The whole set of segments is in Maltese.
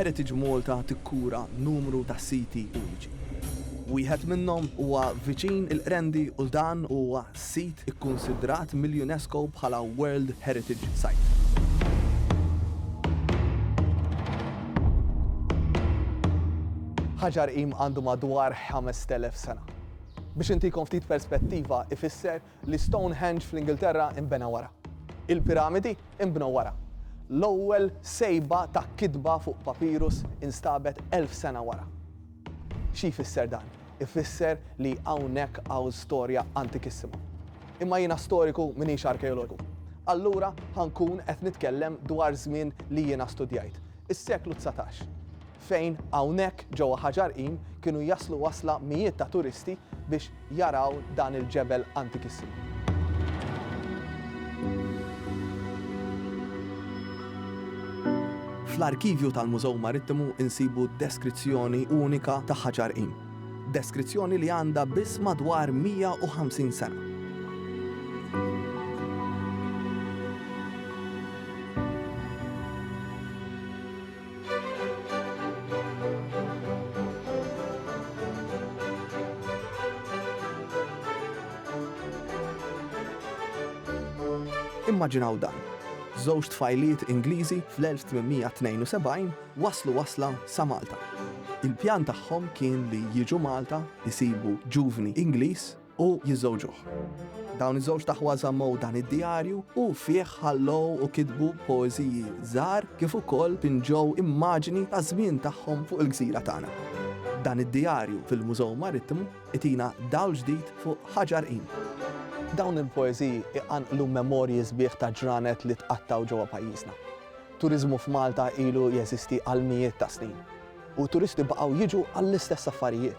Heritage Malta tikkura numru ta' siti uniċi. Wieħed minnhom huwa viċin il-Qrendi u dan huwa sit ikkunsidrat mill-UNESCO bħala World Heritage Site. Ħaġar Qim għandu madwar 5,000 sena. Biex intikom ftit perspettiva, ifisser L-Stonehenge fl-Ingilterra nbena wara. Il-Piramidi nbnew wara. L-ewwel sejba ta' kitba fuq papirus instabet elf sena wara. Xi jfisser dan? Ifisser li hawnhekk hawn storja antikissima. Imma jiena storiku m'iniex arkeologu. Allura ħa nkun qed nitkellem dwar żmien li jiena studjajt, is-seklu dsatax. fejn hawnhekk ġewwa Ħaġarqim kienu jaslu wasla mijiet ta' turisti biex jaraw dan il-ġebel antikissimu. Fl-arkivju tal-Mużew Marittimu nsibu deskrizzjoni unika ta' Ħaġarqim, deskrizzjoni li għandha biss madwar 150 sena. Immaġinaw dan, żewġ tfajliet Ingliżi fl-1872 waslu wasla sa Malta. Il-pjan tagħhom kien li jiġu Malta, isibu ġuvni Ingliż u jiżżewġuh. Dawn iż-żewġt aħwa żammew dan id-djarju u fih ħallew u kitbu poeżiji żgħar kif ukoll pinġew immaġini taż-żmien tagħhom fuq il-gżira tagħna. Dan id-djarju fil-Mużew Marittimu itina dawl ġdid fuq Ħaġar Qim. Dawn il-poeżiji iqanqlu memorji sbieħ ta' ġranet li tqattgħu ġewwa pajjiżna. Turiżmu f'Malta ilu jeżisti għal mijiet ta' snin u turisti baqgħu jiġu għall-istess affarijiet.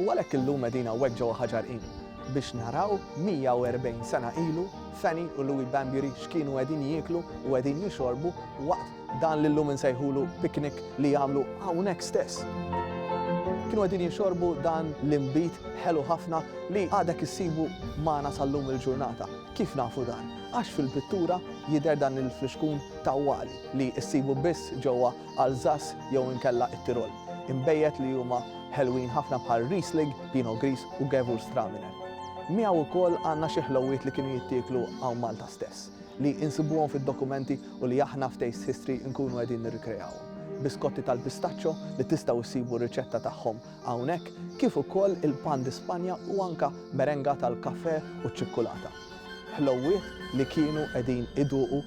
U għalhekk illum qegħdin hawnhekk ġewwa Ħaġar Inn biex naraw 140 sena ilu Fanny u Louie Bambury x'kienu qegħdin jieklu u qegħdin jixorbu waqt dan li llum insejħulu picnic li għamlu hawnhekk stess. Kienu qegħdin jixorbu dan l-inbid ħelu ħafna li għadek issibu magħna sal-lum il-ġurnata. Kif nafu dan? Għax fil-pittura jidher dan il-flixkun tawwali li issibu biss ġewwa Alsace jew inkella it-Tirol, inbejjed li huma ħelwin ħafna bħal Riesling, Pinot Gris u Gewürztraminer. Miegħu wkoll għandna xi ħlowwiet li kienu jittieklu hawn Malta stess, li insibuhom fid-dokumenti u li aħna f'Taste History nkunu qegħdin nirrikrejawhom. Biskotti tal-pistaccio li tistgħu ssibu r-riċetta tagħhom hawnhekk, kif ukoll il-pan di Spanja u anke merenga tal-kafè u ċ-ċikkulata. Ħlowwiet li kienu qegħdin iduqu